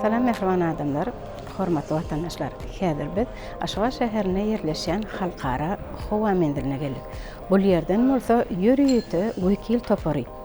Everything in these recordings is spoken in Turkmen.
Salam mähriban adamlar, hormatly watandaşlar. Häzir biz Aşgabat şäherinde ýerleşýän halkara howa menziline geldik. Bul ýerden bolsa ýörite wekil topary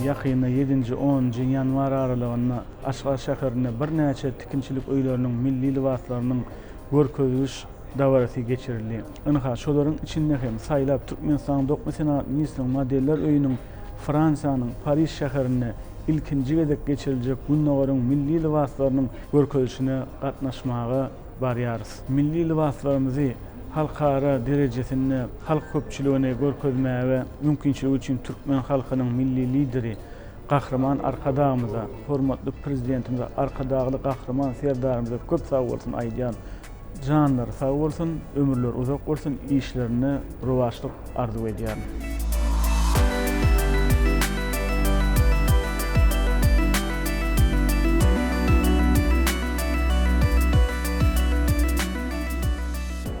Ýakynda ýedinji, onunjy ýanwar aralygynda Aşgabat şäherinde birnäçe tikinçilik öýleriniň milli lybaslarynyň görkeziş dabarasy geçirildi. Ynha, şolaryň içinde hem saýlap Türkmenistanyň Dokma senagat ministriniň Modeller öýüniň Fransiýanyň Pariž şäherinde ilkinji gezek geçiriljek Gündogaryň milli lybaslarynyň görkezişine gatnaşmaga barýarys. Milli lybaslarymyzy halkara derejesinde halk köpçüligine görkezmäge mümkinçiligi üçin türkmen halkynyň Milli Lideri Gahryman Arkadagymyza, hormatly Prezidentimize, Arkadagly Gahryman Serdarymyza köp sag bolsun aýdýan. Janlary sag bolsun, ömürleri uzak bolsun, işlerinde rowaçlyk. arzuw edýärin.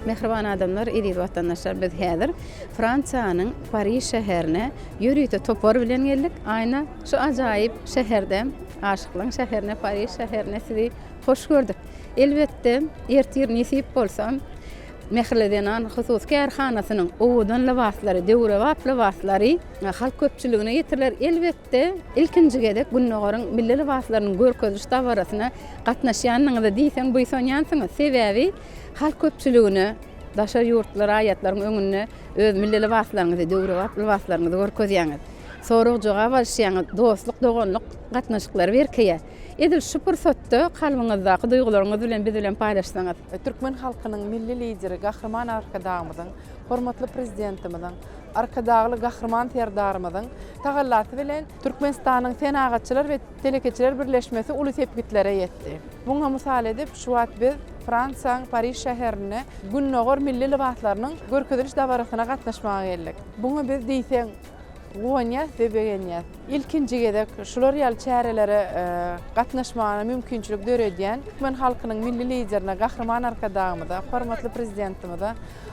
Mähriban adamlar, eziz watandaşlar biz häzir Fransiýanyň Pariž şäherine ýörite topar bilen geldik. Aýna şu ajaýyp şäherde, aşyklaň şäherine Pariž şäherine sizi hoş gördük. Elbetde ertir nesip bolsa Mähirli zenan hususy kärhanasynyň owadan lybaslary, döwrebap lybaslary halk köpçüligine ýetiriler. Elbetde, ilkinji gezek Gündogaryň milli lybaslarynyň görkeziş dabarasyna gatnaşýanyňyza diýseň buýsanýansyňyz. Sebäbi halk köpçüligine, daşary ýurtly raýatlaryň öňünde öz milli lybaslaryňyzy, döwrebap lybaslaryňyzy görkezýäňiz. Sorag-jogap alyşýaňyz, dostluk-doganlyk gatnaşyklary berkeýär. Edil şu pursatda kalbyňyzdaky duýgularyňyzy bilen biz bilen paýlaşsaňyz. Türkmen halkynyň Milli Lideri Gahryman Arkadagymyzyň, hormatly Prezidentimiziň, Arkadagly Gahryman Serdarymyzyň tagallasy bilen Türkmenistanyň Senagatçylar we telekeçiler birleşmesi uly sepgitlere ýetdi. Muňa mysal edip, şu wagt biz Fransiýaň Pariž şäherinde Gündogar milli lybaslarynyň görkeziliş dabarasyna gatnaşmaga geldik. Buňa biz diýseň guwanýas we begenýäs. Ilkinji gezek şular ýaly çärelere gatnaşmagyna mümkinçilik döredýän türkmen halkynyň Milli Liderine Gahryman Arkadagymyza, hormatly Prezidentimize,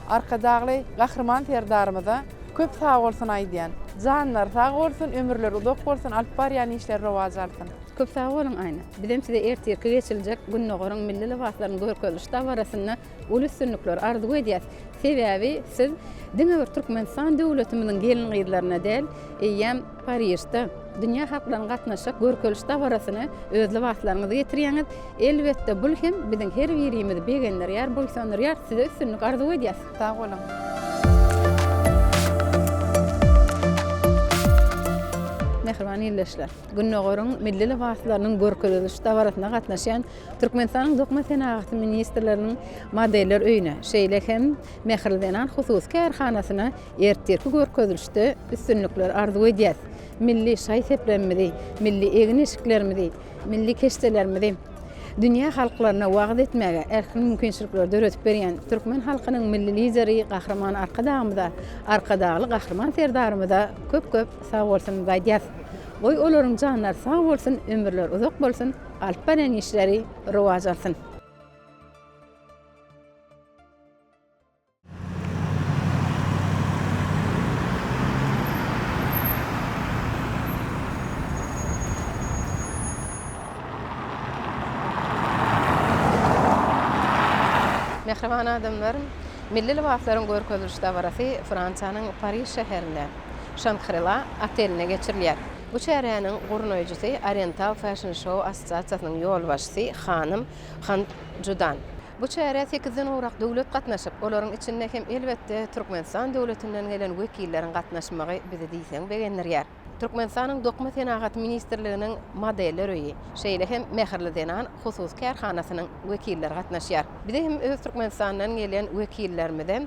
Arkadagly Gahryman Serdarymyza köp sag bolsun aýdýan. Janlary sag bolsun, ömürleri uzak bolsun, alyp barýan işleri rowaç alsyn. Köp sag boluň Aýna. Bizem size ertirki geçiljek Gündogaryň milli lybaslarynyň görkeziliş dabarasynda Uly üstünlikler arzuw edýäs. Sebäbi siz diňe bir Türkmenistan döwletimiziň gelin-gyzlaryna däl, eýýäm Parižde dünýä halklarynyň gatnaşjak görkeliş dabarasyna öz lybaslaryňyzy getirýäňiz. Elbetde, bul hem biziň her birimizi begendirýär, buýsandyrýar. Size üstünlik arzuw edýäs. Sag boluň! Mähriban ildeşler! Gündogaryň milli lybaslarynyň görkeziliş dabarasyna gatnaşýan Türkmenistanyň Dokma senagaty ministrleriniň Modeller öýüne, şeýle hem Mähirli zenan hususy kärhanasyna ertirki görkezilişde üstünlikler arzuw edýäris. Milli şaý-seplerimizi, milli egin-eşiklerimizi, milli keşdelerimizi dünýä halklaryna wagyz etmäge ähli mümkinçilikleri döredip berýän türkmen halkynyň Milli Lideri Gahryman Arkadagymyza, Arkadagly Gahryman Serdarymyza köp-köp sagbolsunymyzy aýdýarys. Goý, olaryň janlary sag bolsun, ömürleri uzak bolsun! Alyp barýan işleri rowaç alsyn. Mähriban adamlar, milli lybaslaryň görkeziliş dabarasy Fransiýanyň Pariž şäherinde Şangrila otelinde geçirilýär. Bu çäräniň gurnaýjysy Oriental Fashion Show assosiasiýasynyň ýolbaşçysy hanym Han Judan. Bu çärä sekizden gowrak döwlet gatnaşyp, olaryň içinde hem elbetde Türkmenistan döwletinden gelen wekilleriň gatnaşmagy bizi diýseň begendirýär. Türkmenistanyň Dokma senagaty ministrliginiň Modeller öýi, şeýle hem Mähirli zenan hususy kärhanasynyň wekilleri gatnaşýar. Bize hem öz Türkmenistandan gelen wekillerimize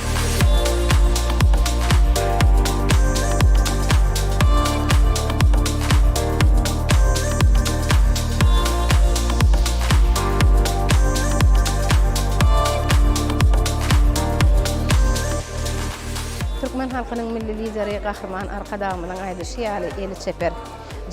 Türkmen halkynyň Milli Lideri Gahryman Arkadagymyzyň aýdyşy ýaly, eli çeper,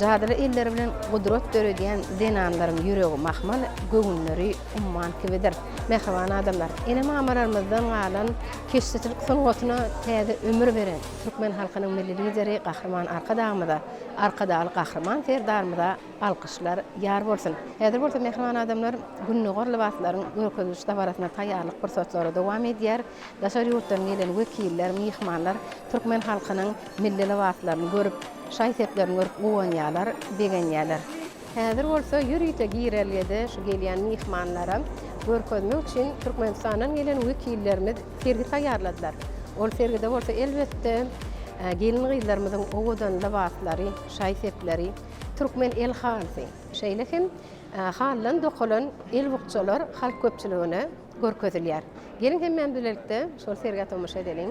jadyly elleri bilen gudrat döredýän zenanlaryň ýüregi mahmal, göwünleri Umman kibidir. Mähriban adamlar! Ene-mamalarymyzdan galan keşdeçilik sungatyna täze ömür beren türkmen halkynyň Milli Lideri Gahryman Arkadagymyza, Arkadagly Gahryman Serdarymyza alkyşlar ýar bolsun! Häzir bolsa, mähriban adamlar, Gündogar lybaslaryň görkeziliş dabarasyna taýýarlyk pursatlary dowam edýär. Daşary ýurtdan gelen wekiller, myhmanlar türkmen halkynyň milli lybaslaryny görüp, şaý-seplerini görüp guwanýarlar, begenýärler. Häzir bolsa ýörite girelgede şu gelýän myhmanlara görkezmek üçin Türkmenistandan gelen wekillerimiz sergi taýýarladylar. Ol sergide bolsa elbetde gelin-gyzlarymyzyň owadan lybaslary, şaý-sepleri, türkmen el halysy, şeýle hem halydan dokalan el bukjalar halk köpçüligine görkezilýär. Geliň hemmämiz bilelikde şol sergä tomaşa edeliň.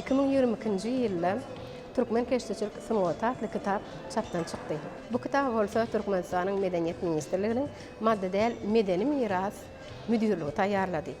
Iki müň ýigrimi ikinji ýylda Türkmen keşdeçilik sungaty atly kitap çapdan çykdy. Bu kitaby bolsa Türkmenistanyň Medeniýet ministrliginiň Maddy däl medeni miras müdirligi taýýarlady.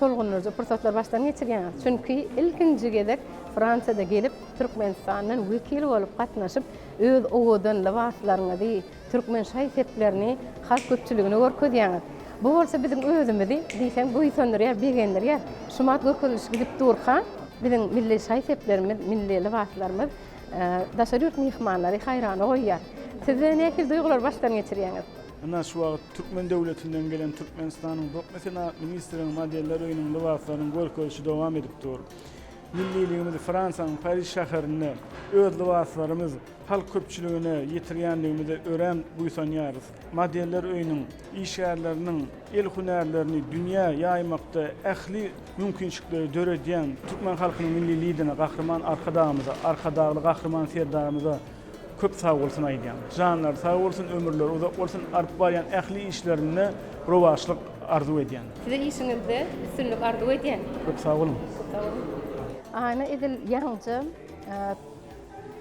Tolgundyryjy pursatlary başdan geçirýäňiz, çünki ilkinji gezek Fransiýada gelip, Türkmenistandan wekil bolup gatnaşyp, öz owadan lybaslaryňyzy, türkmen şaý-seplerini halk köpçüligine görkezýäňiz. Bu bolsa biziň özümizi diýseň buýsandyrýar, begendirýär. Şumat görkezilişi gidip durka, biziň milli şaý-seplerimiz, milli lybaslarymyz daşary ýurt myhmanlary haýrana goýýar. Sizde nähili duýgulary başdan geçirýäňiz? Ynha, şu wagt türkmen döwletinden gelen Türkmenistanyň Dokma senagat ministriniň modeller öýüniň lybaslarynyň görkezişi dowam edip dur. Milliligimizi Fransiýanyň Pariž şäherinde öz lybaslarymyz halk köpçüligine ýetirýänligimize örän buýsanýarys. Modeller öýüniň işgärleriniň el hünärlerini dünýä ýaýmakda ähli mümkinçilikleri döredýän türkmen halkynyň Milli Lidine, Gahryman Arkadagymyza, Arkadagly Gahryman Serdarymyza, Köp sag bolsun aýdýan. Janlary sag bolsun, ömürleri uzak bolsun, alyp barýan ähli işlerinde rowaçlyk arzuw edýän. Size işiňizde üstünlik arzuw edýän. Köp sag boluň. Köp sag boluň. Aýna edil ýaňyja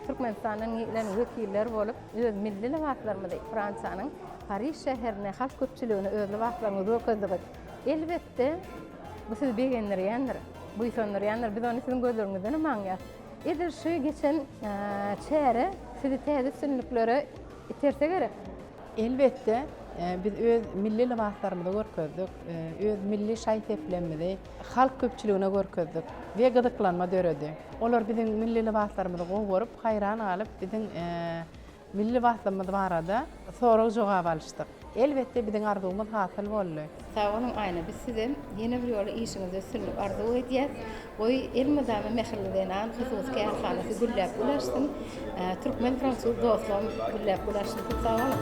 Türkmenistandan gelen wekiller bolup öz milli lybaslarymyzy Fransiýanyň Pariž şäherine halk köpçüligine öz lybaslaryňyzy görkezdigiz elbetde bu sizi begendirýändir, buýsandyrýandyr, biz ony siziň gözleriňizdenem aňýas. Edil şu geçen çäre sizi täze üstünliklere iterse gerek? Elbetde, biz öz milli lybaslarymyzy görkezdik, öz milli şaý-seplerimizi halk köpçüligine görkezdik we gyzyklanma döredi. Olar biziň milli lybaslarymyzy gowy görüp, haýran galyp, biziň Milli baslymyz barada sorag-jogap alyşdyk. Elbetde biziň arzuwymyz hasyl boldy. Sag boluň Aýna biz sizem ýene bir ýola işiňizde üstünlik arzuw edýäs. Goý elmydama Mähirli zenan hususy kärhanasy gülläp gulaşsyn. Türkmen fransuz dostlugym gülläp gulaşsyn köp sag boluň.